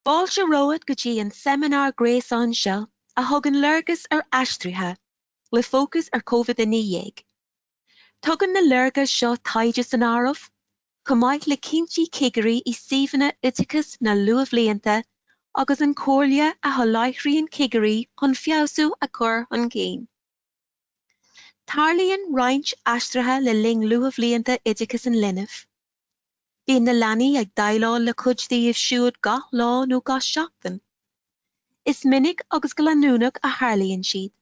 Fáilte romhat go dtí an seimineár gréasáin seo a thugann léargas ar aistrithe, le fócas ar Covid-19. Tugann na léargais seo taighde san áireamh, chomh maith le cinntí cigirí i suíomhanna oideachais na luathbhlianta agus an chomhairle a sholáthraíonn cigirí chun feabhsú a chur chun cinn. Tarlaíonn roinnt aistrithe le linn luathbhlianta oideachais an linbh. Bíonn na leanaí ag déileáil le cuid díobh siúd gach lá nó gach seachtain. Is minic agus go leanúnach a tharlaíonn siad.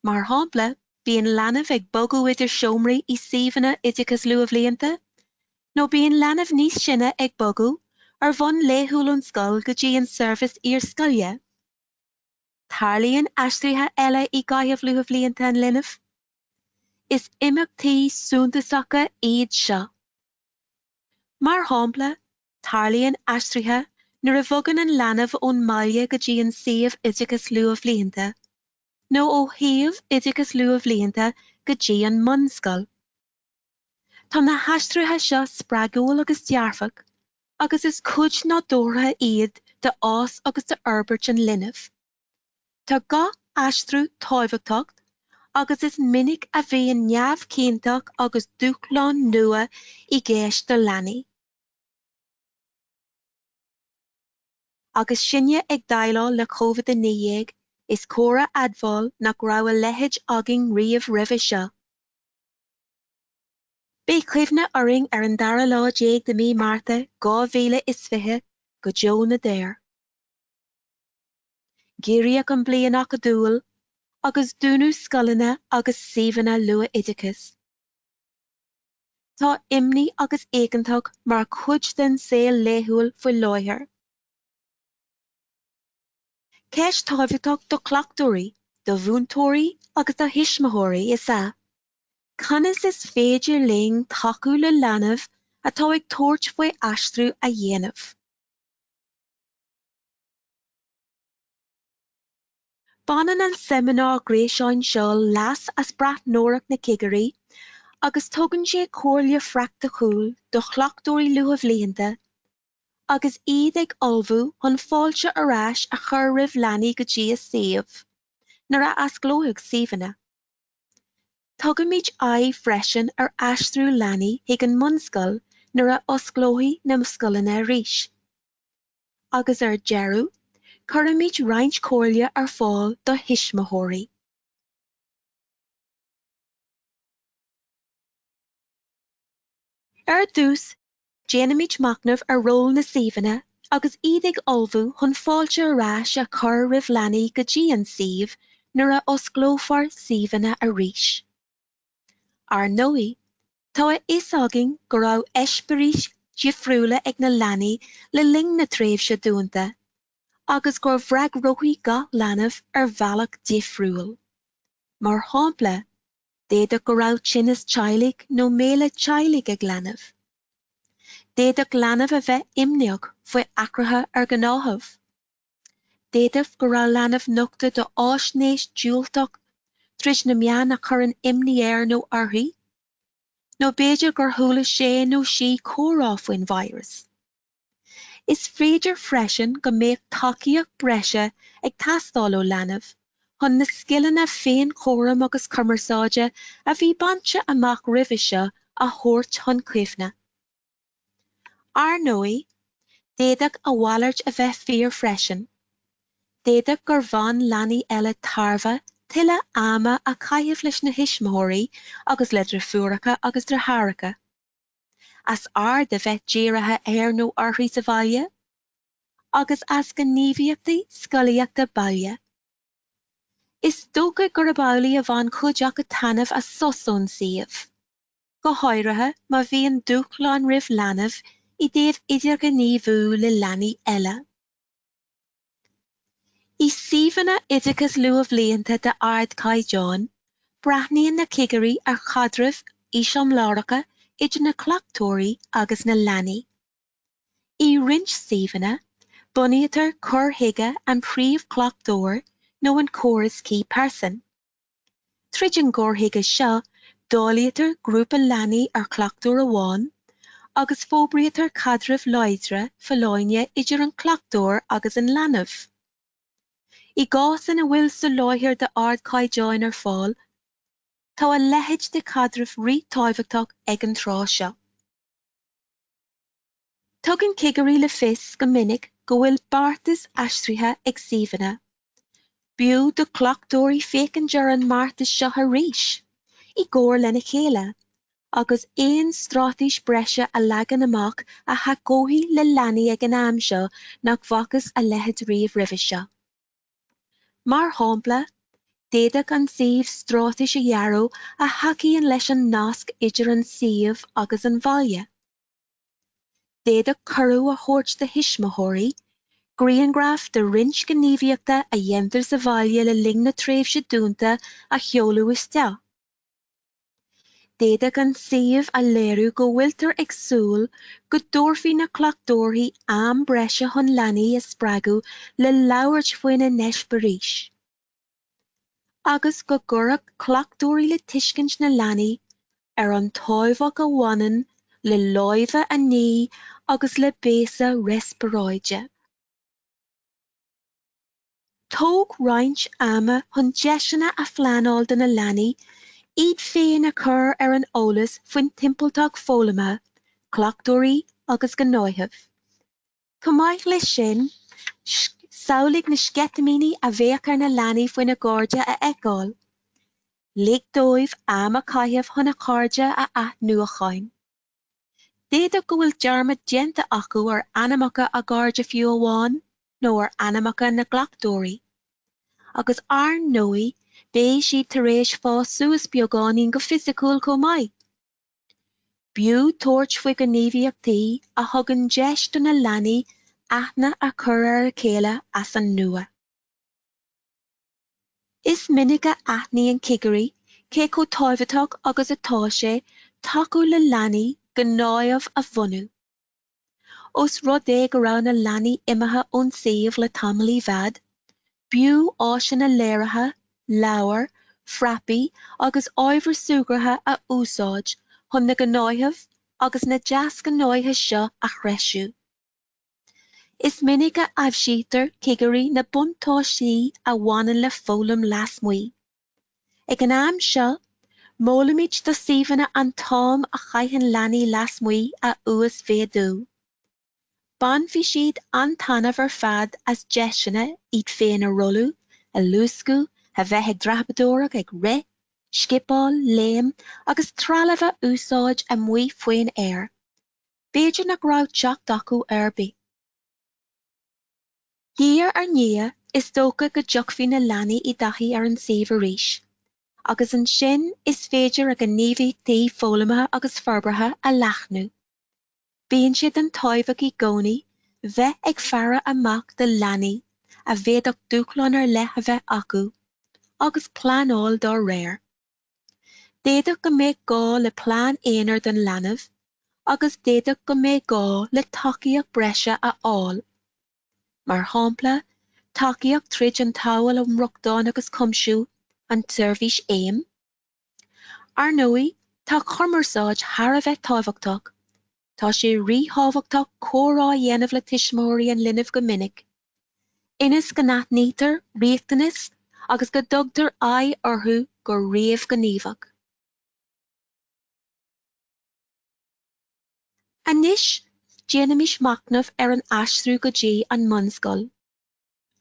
Mar shampla, bíonn leanbh ag bogadh idir seomraí i suíomhanna oideachas luathbhlianta, nó bíonn leanbh níos sine ag bogadh ar bhonn laethúil ón scoil go dtí an seirbhis iarscoile. Tarlaíonn aistrithe eile i gcaitheamh luathbhlianta an linbh. Is imeachtaí suntasacha iad seo. Mar shampla, Tarlaíonn aistrithe nuair a bhogann an leanbh ón mbaile go dtí an suíomh oideachas luathbhlianta, nó ó shuíomh oideachas luathbhlianta go dtí an mbunscoil. Tá na haistrithe seo spreagúil agus dearfach agus is cuid nádúrtha iad de fhás agus de fhorbairt an linbh. Tá gach aistriú tábhachtach agus is minic a bhíonn neamhchinnteacht agus dúshláin nua i gceist do leanaí. Agus sinne ag déileáil le Covid 19, is cóir a admháil nach raibh a leithéid ann riamh roimhe seo. Beidh cuimhne orainn ar an dara lá déag de mí Márta 2020 go deo na ndeor. Giorraíodh an bliain acadúil, agus dúnadh scoileanna agus suíomhanna luath-oideachais. Tá imní agus éiginnteacht mar chuid den saol laethúil faoi láthair. Ceist tábhachtach do chleachtóirí, do mhúinteoirí agus do thuismitheoirí is ea conas is féidir linn tacú le leanbh atá ag tabhairt faoi aistriú a dhéanamh. Baineann an seimineár gréasáin seo leas as breathnóireacht na cigirí agus tugann sé comhairle phraiticiúil do chleachtóirí luathbhlianta agus iad ag ullmhú chun fáilte ar ais a chur roimh leanaí go dtí a suíomh nuair a athosclóidh suíomhanna. Tugaimid aghaidh freisin ar aistriú leanaí chuig an mbunscoil nuair a osclóidh na scoileanna arís. Agus ar deireadh, cuirimid roinnt comhairle ar fáil do thuismitheoirí. Ar dtús, déanaimid machnamh ar ról na suíomhanna agus iad ag ullmhú chun fáilte ar ais a chur roimh leanaí go dtí an suíomh nuair a osclófar suíomhanna arís. Ar ndóigh, tá a fhios againn go raibh eispéiris difriúla ag na leanaí le linn na tréimhse dúnta agus gur bhfreagróidh gach leanbh ar bhealach difriúil. Mar shampla, d'fhéadfadh go raibh tinneas teaghlaigh nó méala teaghlaigh ag leanbh. D'fhéadfadh leanbh a bheith imníoch faoi athruithe ar ghnáthamh. D'fhéadfadh go raibh leanbh nochta do fhaisnéis diúltach trís na meáin a chuireann imní air nó uirthi, nó b'fhéidir gur chuala sé nó sí comhrá faoin víreas. Is féidir freisin go mbeadh tacaíocht breise ag teastáil ó leanbh chun na scileanna féinchúraim agus cumarsáide a bhí bainte amach roimhe seo a thabhairt chun cuimhne. Ar ndóigh, d'fhéadfadh a mhalairt a bheith fíor freisin. D'fhéadfadh gur bhain leanaí eile tairbhe tuilleadh ama a chaitheamh leis na thuismitheoirí agus le drifiúracha agus dritheáracha, as aird a bheith dírithe air nó uirthi sa bhaile, agus as gníomhaíochtaí scolaíochta baile. Is dócha gurb amhlaidh a bhain cuid acu taitneamh as sos ón suíomh. go háirithe má bhíonn dúshláin roimh leanbh i dtaobh idirghníomhú le leanaí eile. I suíomhanna oideachas luathbhlianta de ardchaighdeán, breathnaíonn na cigirí ar chaidrimh eiseamláracha idir na cleachtóirí agus na leanaí. I roinnt suíomhanna, bunaítear cur chuige an príomhchleachtóir nó an córas key person. Tríd an gcur chuige seo dáilítear grúpa leanaí ar chleachtóir amháin agus forbraítear caidrimh láidre folláine idir an cleachtóir agus an leanbh. I gcás ina bhfuil soláthar d'ardchaighdeáin ar fáil, tá a leithéid de chaidreamh rítábhachtach ag an tráth seo. Tugann cigirí le fios go minic go bhfuil beartas aistrithe ag suíomhanna. B'fhiú do chleachtóirí féachaint ar an mbeartas seo arís, i gcomhar lena chéile, agus aon stráitéis breise a leagan amach a thacóidh le leanaí ag an am seo nach bhfacthas a leithéid riamh roimhe seo. Mar shampla, d'fhéadfadh an suíomh straitéis a dhearadh a thacaíonn leis an nasc idir an suíomh agus an bhaile. D'fhéadfadh cuireadh a thabhairt do thuismitheoirí grianghraf de roinnt gníomhaíochta a dhéantar sa bhaile le linn na tréimhse dúnta a sheoladh isteach. D'fhéadfadh an suíomh a léiriú go bhfuiltear ag súil go dtabharfaidh na cleachtóirí am breise chun leanaí a spreagadh le labhairt faoina n-eispirís agus go gcuirfeadh cleachtóirí le tuiscint na leanaí ar an tábhacht a bhaineann le lámha a ní agus le béasa riospráide. Tóg roinnt ama chun deiseanna a phleanáil do na leanaí iad féin a chur ar an eolas faoin timpealtacht foghlama, cleachtóirí agus gnáthaimh. Chomh maith leis sin, samhlaigh na sceitimíní a bheadh ar na leanaí faoina gcairde a fheiceáil. Lig dóibh am a chaitheamh chun a gcairdeas a athnuachan. D'fhéadfadh go bhfuil dearmad déanta acu ar ainmneacha a gcairde fiú amháin, nó ar ainmneacha na gcleachtóirí. Agus ar ndóigh beidh siad tar éis fás suas beagáinín go fisiciúil chomh maith. B'fhiú tabhairt faoi ghníomhaíochtaí a thugann deis do na leanaí aithne a chur ar a chéile as an nua. Is minic a aithníonn cigirí cé chomh tábhachtach agus atá sé tacú le leanaí gnáthaimh a bhunú. Ós rud é go raibh na leanaí imithe ón suíomh le tamall i bhfad, b'fhiú áiseanna léirithe, leabhair, frapaí agus ábhair súgartha a úsáid chun na gnáthaimh agus na deasghnátha seo a threisiú. Is minic a aibhsítear cigirí na buntáistí a bhaineann le foghlaim lasmuigh. Ag an am seo, molaimid do shuíomhanna an t-am a chaitheann leanaí lasmuigh a uasmhéadú. Bainfidh siad an-taitneamh ar fad as deiseanna iad féin a rolladh, a luascadh, a bheith ag dreapadóireacht, ag rith, scipeáil, léim agus trealamh a úsáid amuigh faoin aer. B'fhéidir nach raibh teacht acu air. De réir a chéile is dócha go dtiocfaidh na leanaí i dtaithí ar an suíomh arís agus ansin is féidir a ngníomhaíochtaí foghlamaithe agus forbartha a leathnú. Bíonn sé den tábhacht i gcónaí bheith ag faire amach do leanaí a bhféadfadh dúshláin ar leith a bheith acu agus pleanáil dá réir. D'fhéadfadh go mbeadh gá le plean aonair don leanbh agus d'fhéadfadh go mbeadh gá le tacaíocht breise a fháil, mar shampla tacaíocht tríd an tSamhail um Rochtain agus Cuimsiú, an tseirbhís AIM. Ar ndóigh, tá cumarsáid thar a bheith tábhachtach Tá sé ríthábhachtach comhrá a dhéanamh le tuismitheoirí an linbh go minic, ionas go n-aithnítear riachtanais agus go dtugtar aghaidh orthu go réamhghníomhach. Anois, déanaimis machnamh ar an aistriú go dtí an mbunscoil.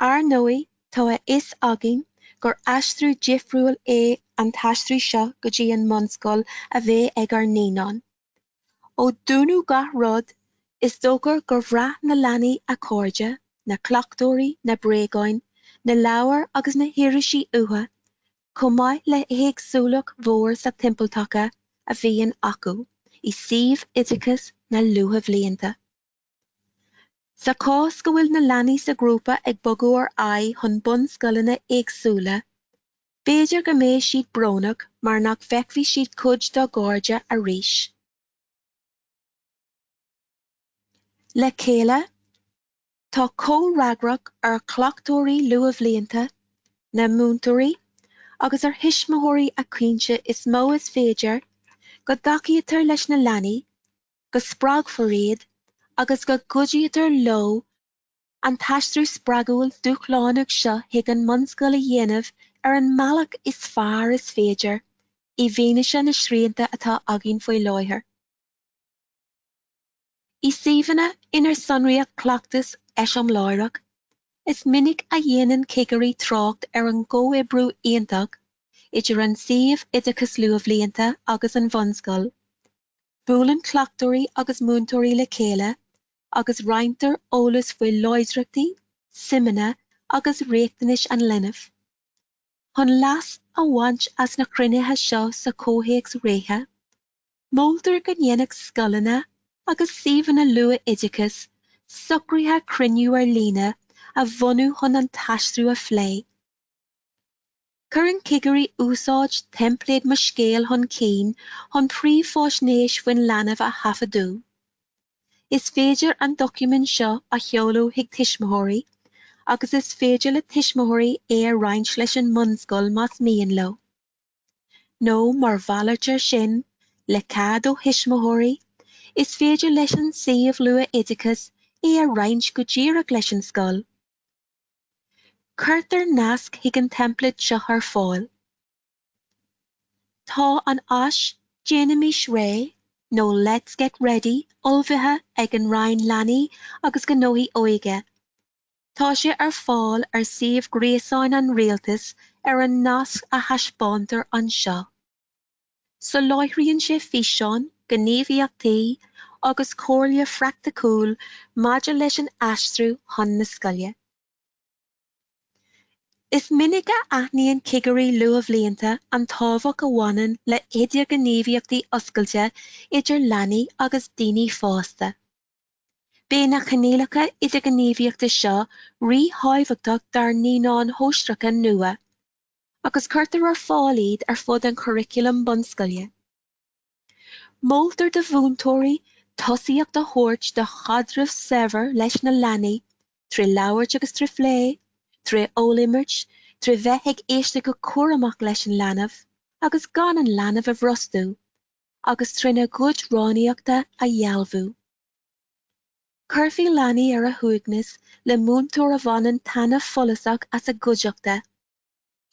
Ar ndóigh tá a fhios againn gur aistriú difriúil é an t-aistriú seo go dtí an mbunscoil a bheidh ag ár naíonáin. Ó dúnadh gach rud, is dócha gur bhraith na leanaí a cairde, na cleachtóirí, na bréagáin, na leabhair agus na háiseanna uatha, chomh maith le héagsúlacht mhór sa timpeallacht a bhíonn acu i suíomh oideachais na luathbhlianta. Sa chás go bhfuil na leanaí sa ghrúpa ag bogadh ar aghaidh chun bunscoileanna éagsúla, b'fhéidir go mbeidh siad brónach mar nach bhfeicfidh siad cuid dá gcairde arís. Le chéile, tá comhfhreagracht ar chleachtóirí luathbhlianta, na múinteoirí agus ar thuismitheoirí a chinntiú is mó is féidir go dtacaítear leis na leanaí go spreagfar iad agus go gcuidítear leo an t-aistriú spreagúil dúshlánach seo chuig an mbunscoil a dhéanamh ar an mbealach is fearr is féidir i bhfianaise na srianta atá againn faoi láthair. I suíomhanna inar sonraíodh cleachtas eiseamláireach, is minic a dhéanann cigirí trácht ar an gcomhoibriú iontach idir an suíomh oideachais luathbhlianta agus an bhunscoil, Buaileann cleachtóirí agus múinteoirí le chéile agus roinntear eolas faoi láidreachtaí, suimeanna agus riachtanais an linbh. Chun leas a bhaint as na cruinnithe seo sa chomhthéacs reatha, moltar go ndéanfadh scoileanna agus suíomhanna luath-oideachais socruithe cruinniú ar líne a bhunú chun an t-aistriú a phlé. Cuireann cigirí úsáid teimpléad Mo Scéal chun cinn chun príomhfháisnéis faoin leanbh a thaifeadadh. Is féidir an doiciméad seo a sheoladh chuig tuismitheoirí agus is féidir le tuismitheoirí é a roinnt leis an mbunscoil más mian leo, nó mar mhalairt ar sin, le cead ó thuismitheoirí, is féidir leis an suíomh luath-oideachais é a roinnt go díreach leis an scoil. Cuirtear nasc chuig an template seo ar fáil. Tá an áis Déanaimís Réidh nó Let's Get Ready ullmhaithe ag an Roinn Leanaí agus Gnóthaí Óige. Tá sé ar fáil ar shuíomh gréasáin an Rialtais ar an nasc a thaispeántar anseo. Soláthraíonn sé físeáin, gníomhaíochtaí agus comhairle phraicticiúil maidir leis an aistriú chun na scoile. Is minic a aithníonn cigirí luathbhlianta an tábhacht a bhaineann le hidirghníomhaíochtaí oscailte idir leanaí agus daoine fásta. Beidh na coinníollacha idirghníomhaíochta seo ríthábhachtach dár naíonáin shóisearacha nua. agus cuirtear ar fáil iad ar fud an churaclaim bunscoile. Moltar do mhúinteoirí tosaíocht a thabhairt do chaidreamh saibhir leis na leanaí trí labhairt agus trí phlé, trí rólimirt, trí bheith ag éisteacht go cúramach leis an leanbh agus gan an leanbh a bhrostú, agus trína gcuid rannaíochta a dhearbhú. Cuirfear leanaí ar a suaimhneas le múinteoir a bhaineann taitneamh follasach as a gcuideachta.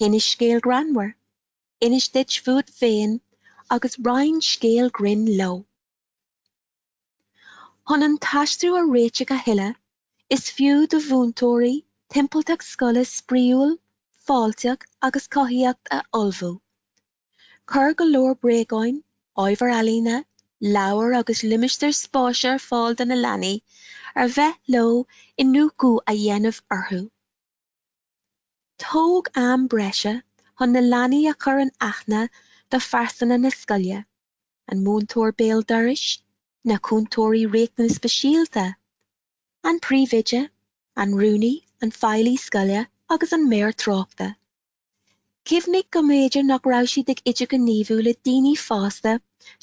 Inis scéal greannmhar, inis dóibh fút féin agus roinn scéal grinn leo. Chun an t-aistriú a réiteach a thuilleadh, is fiú do mhúinteoirí timpealtacht scoile spraíúil, fáilteach agus cothaitheach a ullmhú. Cuir go leor bréagáin, ábhar ealaíne, leabhair agus limistéir spáis ar fáil do na leanaí ar mhaith leo iniúchadh a dhéanamh orthu. Tóg am breise chun na leanaí a chur in aithne do phearsanra na scoile, an múinteoir béal dorais, na cúntóirí riachtanas speisialta, an príomhoide, an rúnaí, an feighlí scoile agus an maor tráchta. Cuimhnigh go mb'fhéidir nach raibh siad ag idirghníomhú le daoine fásta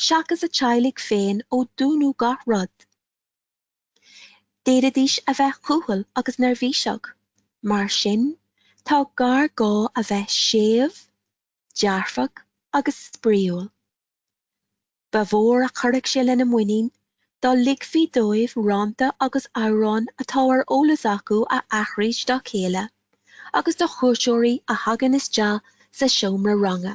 seachas a dteaghlaigh féin ó dúnadh gach rud. D'fhéadfaidís a bheith cúthail agus neirbhíseach. Mar sin, tá géarghá a bheith séimh, dearfach agus spraíúil. Ba mhór a chuirfeadh sé lena muinín dá ligfí dóibh rannta agus amhráin atá ar eolas acu a aithris dá chéile agus do chuairteoirí a thagann isteach sa seomra ranga.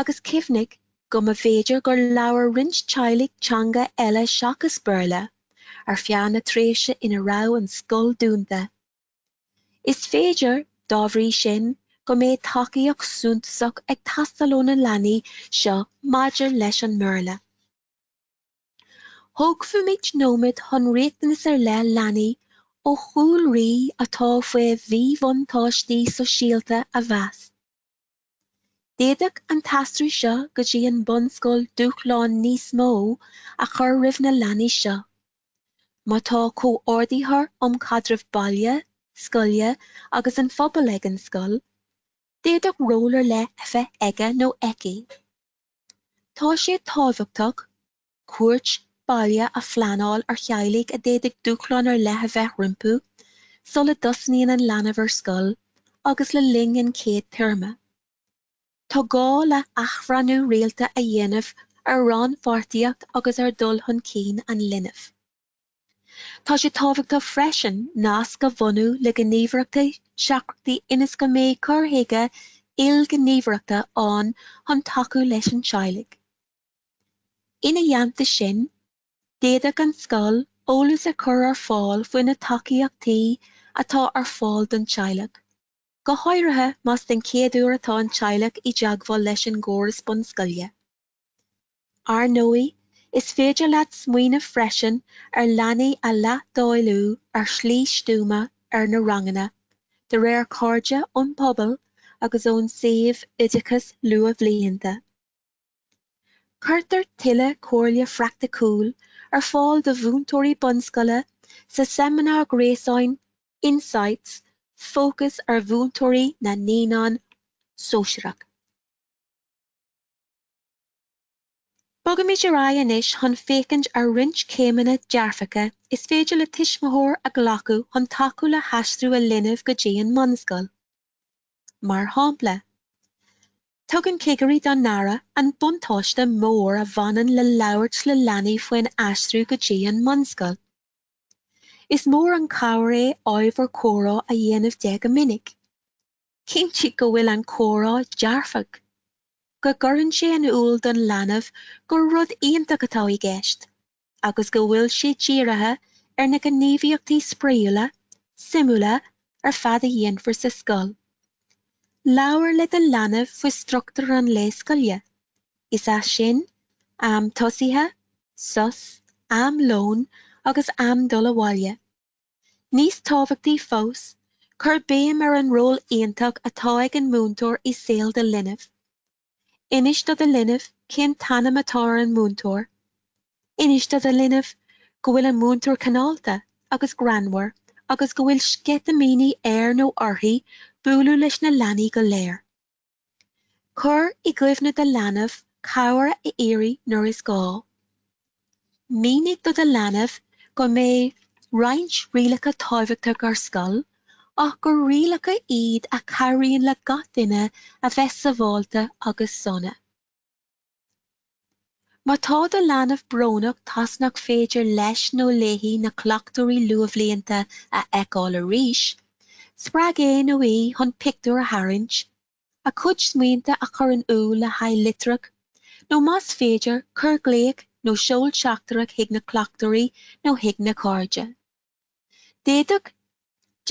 Agus cuimhnigh go mb'fhéidir gur labhair roinnt teaghlaigh teanga eile seachas Béarla ar feadh na tréimhse ina raibh an scoil dúnta. Is féidir, dá bhrí sin, go mbeidh tacaíocht suntasach ag teastáil ó na leanaí seo maidir leis an mBéarla. Tógfaimid nóiméad chun riachtanas ar leith leanaí ó chúlraí atá faoi mhíbhuntáistí sóisialta a mheas. D'fhéadfadh an t-aistriú seo go dtí an mbunscoil dúshlán níos mó a chur roimh na leanaí seo. Má tá comhordaitheoir um chaidreamh baile, scoile agus an phobail ag an scoil, d'fhéadfadh ról ar leith a bheith aige nó aici. Tá sé tábhachtach cuairt baile a phleanáil ar theaghlaigh a d'fhéadfadh dúshláin ar leith a bheith rompu sula dtosnaíonn an leanbh ar scoil agus le linn an chéad téarma. Tá gá le hathbhreithniú rialta a dhéanamh ar rannpháirtíocht agus ar dhul chun cinn an linbh. Tá sé tábhachtach freisin nasc a bhunú le gníomhaireachtaí seachtracha ionas go mbeidh cur chuige ilghníomhaireachta ann chun tacú leis an teaghlach. Ina theannta sin, d'fhéadfadh an scoil eolas a chur ar fáil faoi na tacaíochtaí atá ar fáil don teaghlach, go háirithe más den chéad uair atá an teaghlach i dteagmháil leis an gcóras bunscoile. Ar ndóigh, is féidir leat smaoineamh freisin ar leanaí a leithdháileadh ar shlí stuama ar na ranganna, de réir cairde ón bpobal agus ón suíomh oideachais luathbhlianta. Cuirtear tuilleadh comhairle phraiticiúil ar fáil do mhúinteoirí bunscoile sa seimineár gréasáin Insights fócas ar mhúinteoirí na naíonán sóisearach. Bogaimid ar aghaidh anois chun féachaint ar roinnt céimeanna dearfacha is féidir le tuismitheoir a ghlacadh chun tacú le haistriú a linbh go dtí an mbunscoil. Mar shampla, tugann cigirí dá n-aire an buntáiste mór a bhaineann le labhairt le leanaí faoin aistriú go dtí an mbunscoil. Is mór an chabhair é ábhar comhrá a dhéanamh de go minic. Cinntigh go bhfuil an comhrá dearfach, go gcuireann sé in iúl don leanbh gur rud iontach atá i gceist agus go bhfuil sé dírithe ar na gníomhaíochtaí spraíúla, suimiúla ar fad a dhéanfar sa scoil. Labhair le do leanbh faoi struchtúr an lae scoile, is é sin, am tosaithe, sos, am lóin agus am dul abhaile. Níos tábhachtaí fós, cuir béim ar an ról iontach atá ag an múinteoir i saol do linbh. Inis do do linbh cén t-ainm atá ar an múinteoir. Inis do do linbh go bhfuil an múinteoir cineálta agus greannmhar agus go bhfuil sceitimíní air nó uirthi bualadh leis na leanaí go léir. Cuir i gcuimhne do leanbh cabhair a iarraidh nuair is gá. Mínigh do do leanbh go mbeidh roinnt rialacha tábhachtach ar scoil ach gur rialacha iad a chabhraíonn le gach duine a bheith sabháilte agus sona. Má tá do leanbh brónach toisc nach féidir leis nó léi na cleachtóirí luathbhlianta a fheiceáil arís, spreag é nó í chun pictiúr a tharraingt, a cuid smaointe a chur in iúl le haghaidh litreach, nó más féidir, cuir glaoch nó seol teachtaireacht chuig na cleachtóirí nó chuig na cairde. D'fhéadfadh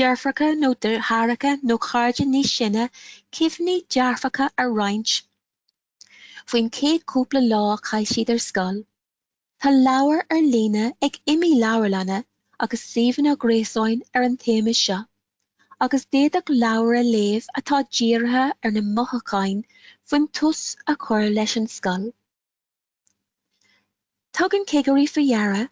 deirfiúracha nó deartháireacha nó cairde níos sine cuimhní dearfacha a roinnt. Faoin chéad cúpla lá a chaith siad ar scoil, tá leabhair ar líne ag iomaí leabharlanna agus suíomhanna gréasáin ar an téama seo, agus d'fhéadfadh leabhar a léamh atá dírithe ar na mothucháin faoin tús a chur leis an scoil. Tugann cigirí faoi deara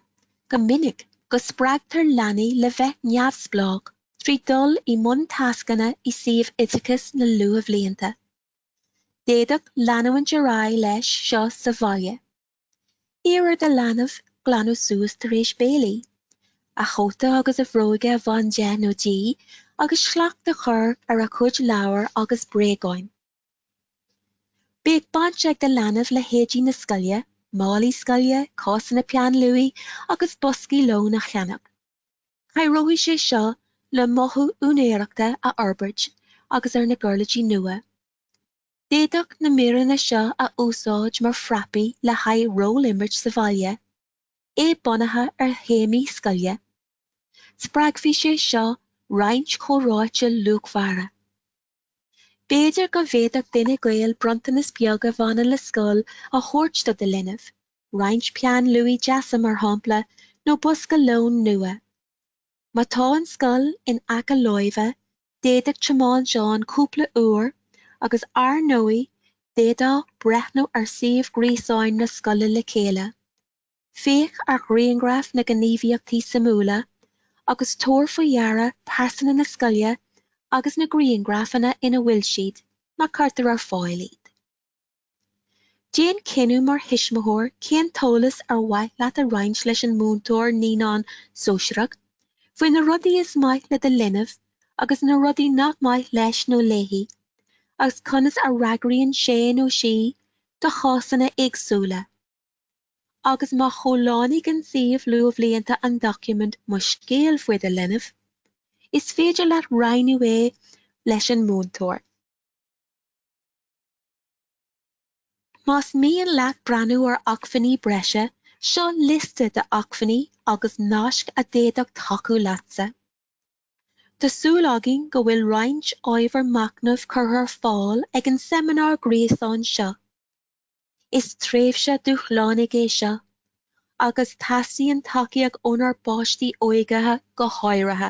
go minic go spreagtar leanaí le bheith neamhspleách trí dul i mbun tascanna i suíomh oideachas na luathbhlianta. D'fhéadfá leanúint ar aghaidh leis seo sa bhaile. Iarr ar do leanbh glanadh suas tar éis béilí. A chóta agus a bhróige a bhaint de nó di agus slacht a chur ar a chuid leabhar agus bréagáin. Bíodh baint ag do leanbh le héidí na scoile, málaí scoile, cásanna peann luaidhe agus boscaí lóin a cheannach. Cabhróidh sé seo le mothú úinéireachta a fhorbairt agus ar na giuirlidí nua. D'fhéadfá na míreanna seo a úsáid mar phrapaí le haghaidh ról-imirt sa bhaile, é bunaithe ar théamaí scoile. Spreagfaidh sé seo roinnt comhráite luachmhara. B'fhéidir go bhféadfadh duine gaoil bronntanas beag a bhaineann le scoil a thabhairt do do linbh, roinnt peann luaidhe deasa mar shampla nó bosca lóin nua. Má tá an scoil in aice láimhe d'fhéadfá tiomáint ann cúpla uair agus ar ndóigh d'fhéadfá breathnú ar suíomh gréasáin na scoile le chéile. Féach ar ghrianghraif na ngníomhaíochtaí suimiúla agus tabhair faoi deara pearsanra na scoile agus na grianghrafanna ina bhfuil siad, má cuirtear ar fáil iad. Déan cinneadh mar thuismitheoir cén t-eolas ar mhaith leat a roinnt leis an múinteoir naíonán sóisearach faoi na rudaí is maith le do leanbh agus na rudaí nach maith leis nó léi agus conas a fhreagraíonn sé nó sí do chásanna éagsúla. agus má chomhlánaigh an suíomh luathbhlianta an doiciméad Mo Scéal faoi do leanbh, is féidir leat roinnt é leis an múinteoir. Más mian leat breathnú ar acmhainní breise, seo liosta d'acmhainní agus naisc a d'fhéadfadh tacú leatsa. Tá súil againn go bhfuil roinnt ábhar machnaimh curtha ar fáil ag an seimineár gréasáin seo. Is tréimhse dúshlánaigh é seo agus teastaíonn tacaíocht ónár bpáistí óga go háirithe.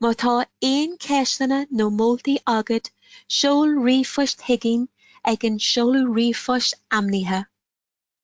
Má tá aon ceisteanna nó moltaí agat seol ríomhphoist chuiginn ag an seoladh ríomhphoist ainmnithe.